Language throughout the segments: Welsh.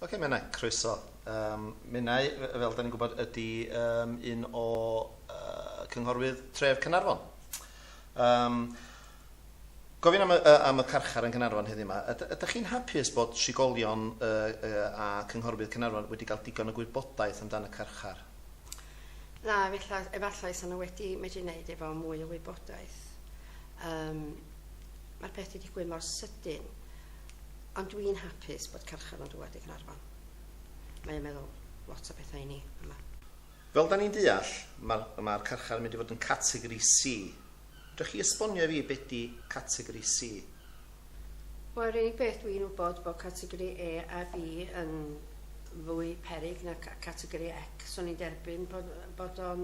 Ocê, mae yna croeso. Yym, Menai, f- fel 'dan ni'n gwybod, ydi yym un o yy cynghorwydd tref Caernarfon. Yym, Gofyn am y yy am y carchar yn Caernarfon heddiw 'ma. Yd- ydach chi'n hapus bod trigolion yy yy a cynghorwydd Caernarfon wedi cael digon o gwybodaeth amdan y carchar? Na, efella- efallai 'sa nhw wedi medru neud efo mwy o wybodaeth. Yym, ma'r peth 'di digwydd mor sydyn. Ond dw i'n hapus bod carchar yn dŵad i Gaernarfon. Mae o'n meddwl lot o bethau i ni yma. Fel 'da ni'n deall, mae'r mae'r carchar yn mynd i fod yn categori C. Fedrwch chi esbonio i fi be 'di categori C? Wel, yr unig beth dw i'n wybod bod categori A a B yn fwy peryg na categori X. O'n i'n derbyn bod bod o'n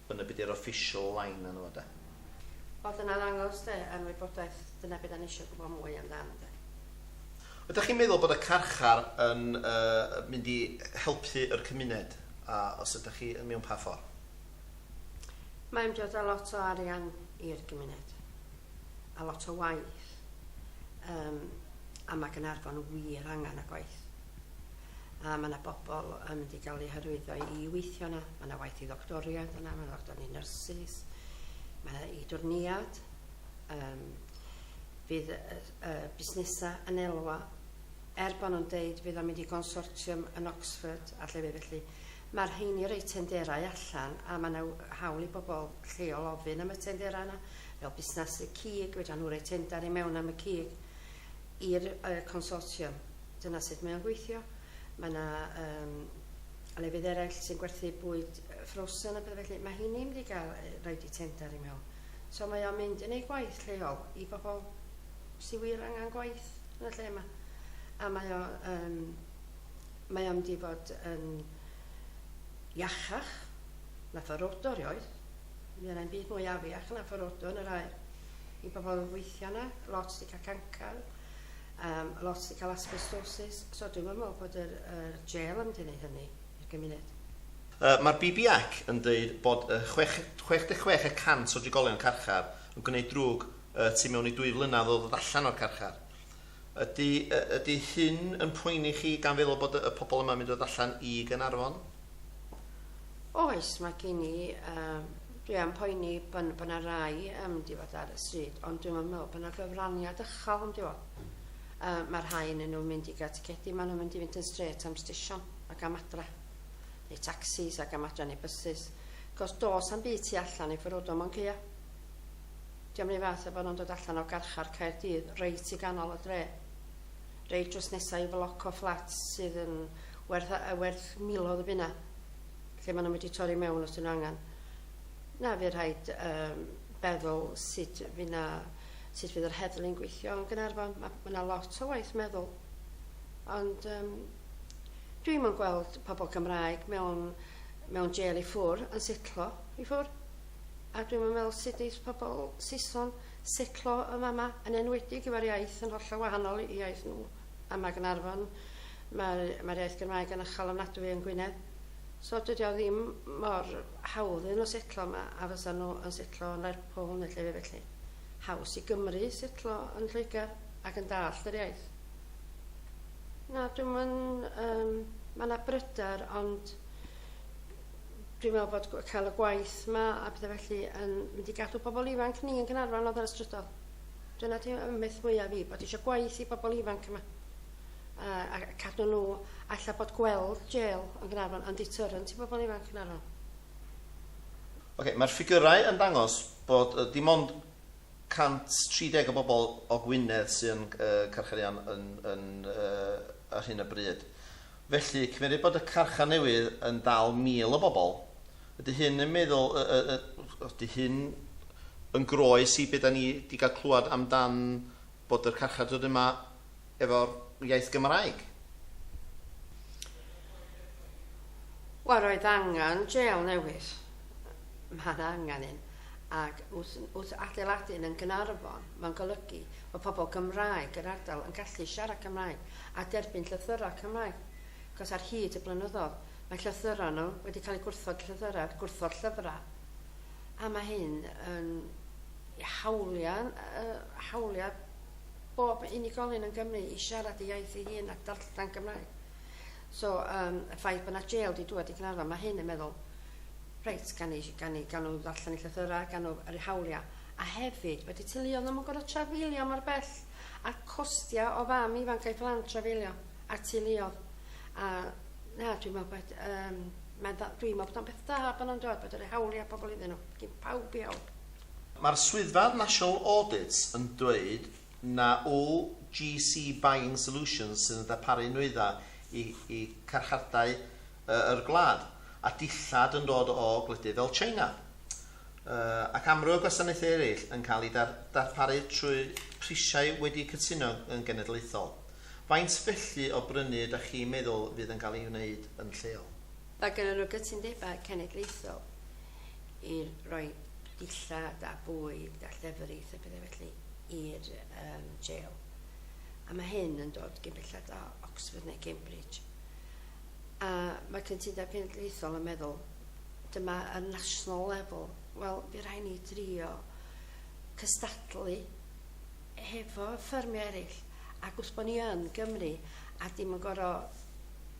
Dyna be di'r official line yno fo de. Wel dyna ddangos de, yn wybodaeth, dyna be da ni isio gwybod mwy amdan de. Ydach chi'n meddwl bod y carchar yn yy mynd i helpu yr cymuned a os ydach chi yn mewn pa ffor? Mae yn dod a lot o arian i'r gymuned a lot o waith yym a ma Gaernarfon wir angan y gwaith. a mae yna bobl yn mynd i gael eu hyrwyddo i weithio yna. Mae yna waith i ddoctoriaid yna, mae yna ddoctor i nyrsys, mae yna i dwrniad, um, fydd y, y busnesau yn elwa, er bod nhw'n deud fydd o'n mynd i consortium yn Oxford a lle fydd felly. Mae'r rheini rei tenderau allan a mae yna hawl i bobl lleol ofyn am y tenderau yna, fel busnes y cig, fedra nhw rei tendar i mewn am y cig. i'r consortium. Dyna sut mae o'n gweithio. Mae yna um, lefydd eraill sy'n gwerthu bwyd ffrosen a bethau felly. Mae hyn ni'n mynd i gael rhaid i tender i mewn. So mae o'n mynd yn ei gwaith lleol i bobl sy'n wir angen gwaith yn y lle yma. A mae o'n um, mae o'n mynd i fod yn iachach na fforodor oedd, Mae yna 'im byd mwy afiach na fforodw yn yr aer. I bobl yn gweithio yna, lot 'di cael cancr, um, lot 'di cael asbestosis, so dwi'm yn meddwl bod yr, yr jail yn mynd i wneud hynny i'r gymuned. Uh, Mae'r BBAC yn dweud bod uh, 66 y cant o drigolion carchar yn gwneud drwg uh, tu mewn i dwy flynadd o ddod allan o'r carchar. Ydy, ydy hyn yn poeni chi gan feddwl bod y pobl yma'n mynd o allan i Gaernarfon? Oes, mae gen i, um, dwi am poeni bod bo yna rai yn mynd i fod ar y stryd, ond dwi'n meddwl bod yna gyfraniad ychal yn diwedd. Uh, mae rhai yn nhw'n mynd i gael ticedi, maen nhw'n mynd i fynd yn stret am stesion ac am adra, neu taxis ac am adra neu bysys. Cos dos am byd tu allan i ffyrwyddo mo'n ceio. Dio'm run fath a bo' nhw'n dod allan o garchar Caerdydd reit i ganol y dre. Reit drws nesa i floc o fflats sydd yn werth a- yy werth miloedd o bunna. Lle ma' nhw'n mynd i torri mewn os 'dyn nhw angan. Na, fydd rhaid yym feddwl sut fydd 'na sut fydd yr heddlu'n gweithio yn Gaernarfon. Ma' ma' 'na lot o waith meddwl. Ond yym dwi'm yn gweld pobl Cymraeg mewn mewn jêl i ffwr yn setlo i ffwr. a dwi'm yn meddwl sut neith pobl Saeson setlo yn fama, yn enwedig efo'r iaith yn hollol wahanol i iaith nhw. A ma' Gaernarfon, mae'r mae'r iaith Gymraeg yn uchel ofnadwy yn Gwynedd. So dydy o ddim mor hawdd iddyn nhw setlo yma a fysa nhw yn setlo yn Lerpwl neu llefydd felly. Haws i Gymry setlo yn Lloegr ac yn dallt yr iaith. Na, dwi'm yn... Yym, mae 'na bryder ond Dwi'n meddwl bod gw- cael y gwaith yma a bydde felly yn mynd i gadw pobl ifanc ni yn Gaernarfon oedd ar y strydol. Dyna di ymeth mwyaf fi, bod eisiau gwaith i bobl ifanc yma. A, a cadw nhw, alla bod gweld jail yn Gaernarfon yn deterrent i bobl ifanc yn Gaernarfon. Ok, mae'r ffigyrau yn dangos bod yy, dim ond 130 o bobl o Gwynedd sy'n yy carcharian yn, yn yy, ar hyn o bryd. Felly, cymeryd bod y carchar newydd yn dal 1,000 o bobl, ydy hyn yn meddwl, y, y, y, ydy hyn yn groes i be da ni di gael clywed am dan bod yr carchar dod yma efo'r iaith Gymraeg? Wel, roedd angen jail newydd. Mae yna angen un. Ac wrth, wrth adeiladu'n yn Gynarfon, mae'n golygu o pobl Gymraeg yr ardal yn gallu siarad Cymraeg a derbyn llythyrau Cymraeg, achos ar hyd y blynyddoedd mae llythyrau nhw wedi cael eu gwrthod, llythyrau, gwrthod llyfrau, a mae hyn yn hawliau, hawliau bob unigolyn yn Gymru i siarad ei iaith ei hun a darllen Cymraeg. So, um, y ffaith bod yna jail di dŵad i Gynarfon, mae hyn yn meddwl, reit, gan i, gan i, gan nhw ddarllen ei llythyrau, gan nhw yr hawliau, a hefyd wedi teuluoedd ddim yn gorfod trafeilio mor bell, a'r costiau o fam ifanc a'i phlant trafeilio, a'r teuluoedd. A, na, dwi'n meddwl bod, um, mae'n dda, dwi'n meddwl bod o'n beth da bod nhw'n dod, bod o'n rhoi hawliau pobl iddyn nhw, gyn pawb i help. Mae'r Swyddfa National Audit yn dweud na OGC Buying Solutions sydd yn darparu nwyddau i i carchardai yr gwlad, a dillad yn dod o gwledydd fel China, ac amryw o gwasanaethau eraill yn cael eu darparu trwy prisiau wedi cytuno yn genedlaethol. Faint felly o brynu ydach chi'n meddwl fydd yn cael ei wneud yn lleol? Mae gynnon nhw gytundebau cenedlaethol i roi dillad a bwyd a llefrith a pethau felly i'r jail, a mae hyn yn dod cyn belled â Oxford neu Cambridge. A mae Cytundeb Cenedlaethol yn meddwl, dyma y national level. Wel, bydd rhaid ni drio cystadlu hefo ffermio eraill, ac wrth bod ni yn Gymru a dim yn goro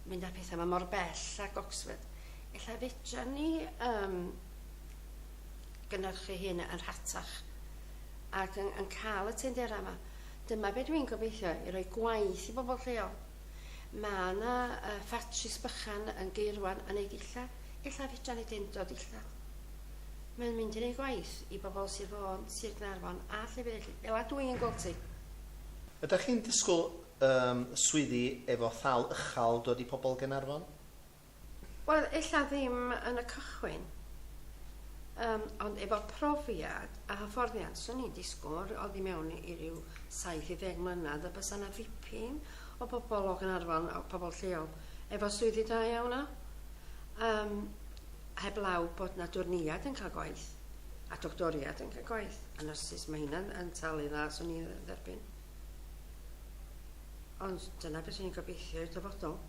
mynd â pethau yma mor bell ag Oxford, efallai fedra ni um, gynnyrchu hyn yn rhatach ac yn, yn cael y tendera yma. Dyma beth dwi'n gobeithio, i roi gwaith i bobl lleol. Mae yna uh, ffatris bychan yn geirwan yn ei dillad. Ella fedra ni ddim dod dillad. Mae'n mynd yn ei gwaith i bobl Sir Fôn, Sir Gnarfon a llefydd eraill. Fel a dwi'n gweld ti. Ydach chi'n disgwyl um, swyddi efo thal ychal dod i pobl Gaernarfon? Wel ella ddim yn y cychwyn yym ond efo profiad a hyfforddiant swn i'n disgwl oddi mewn i ryw saith i ddeg mlynedd y bysa na ddipyn o bobol o Gaernarfon o pobol lleol efo swyddi da iawn a yym heb law bod na dwrneiad yn ca'l gwaith a doctoriad yn ca'l gwaith a nyrsys ma' hynna'n yn talu dda swn i'n dderbyn. Ond dyna beth rwy'n gobeithio i'r dyfodol.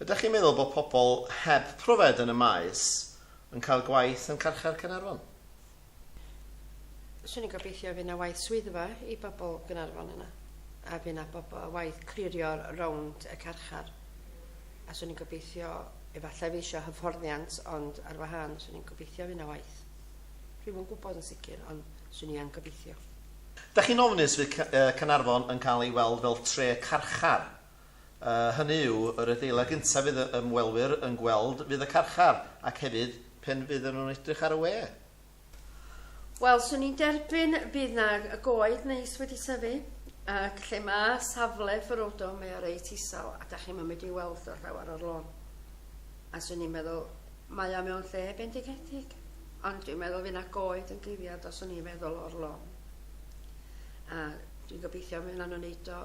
Ydych chi'n meddwl bod pobl heb pryfed yn y maes yn cael gwaith yn carchar Caernarfon? Swn i'n gobeithio fydd yna waith swyddfa i bobl Gaernarfon yna, a fydd yna bobl waith clirio rownd y carchar. A swn i'n gobeithio, efallai fydd eisiau hyfforddiant, ond ar wahân, swn i'n gobeithio fydd yna waith. Rwyf yn gwybod yn sicr, ond swn i yn gobeithio. Dach chi'n ofnus fydd Caernarfon yn cael ei weld fel tre carchar? Hynny yw, yr adeilad gyntaf fydd y ymwelwyr yn gweld fydd y carchar, ac hefyd pen fydden nhw'n edrych ar y we. Wel, 'swn i'n derbyn bydd 'na goed neis wedi tyfu, ac lle ma' safle Ferodo mae o reit isel a dach chi'm yn medru weld y rhewer o'r lôn. A 'swn i'n meddwl, mae o mewn lle bendigedig, ond dwi'n meddwl fydd 'na goed yn gliriad os o'n i'n meddwl o'r lôn. A dwi'n gobeithio mi wnawn nhw wneud o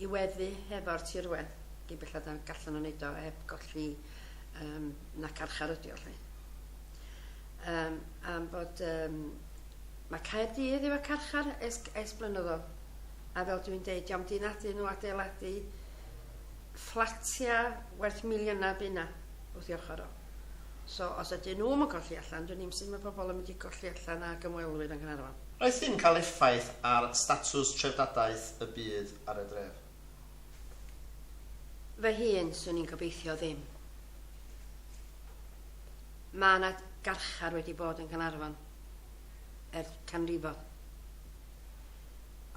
i weddu hefo'r tirwedd, gyn bellad na gallan nhw wneud o heb golli um, na carchar ydi o lle. Um, am bod um, mae Caerdydd efo carchar es, es blynyddol, a fel dwi'n deud, diolch dyn nhw adeiladu fflatiau werth miliynau fydd yna wrth ei ochr o. So os ydyn nhw'm yn colli allan, dwn i'm sut mae pobl yn mynd i golli allan ag ymwelwyr yng Nghaernarfon. Aeth hyn cael effaith ar statws treftadaeth y byd ar y dref? Fy hun, 'swn i'n gobeithio ddim. Mae yna garchar wedi bod yn Nghaernarfon ers canrifoedd.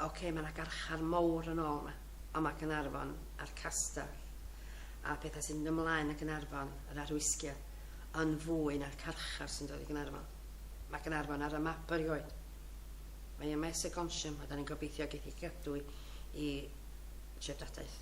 Ocê, mae yna garchar mowr yn ôl yma. ond mae Caernarfon a'r Castell, a pethau sy'n mynd ymlaen yn Caernarfon, yr arwisgiad, yn fwy na'r carchar sy'n dod i Gaernarfon. Mae Caernarfon ar y map erioed. Mae yma Essex Gonsiam a da ni'n gobeithio geith i gadw i treftadaeth.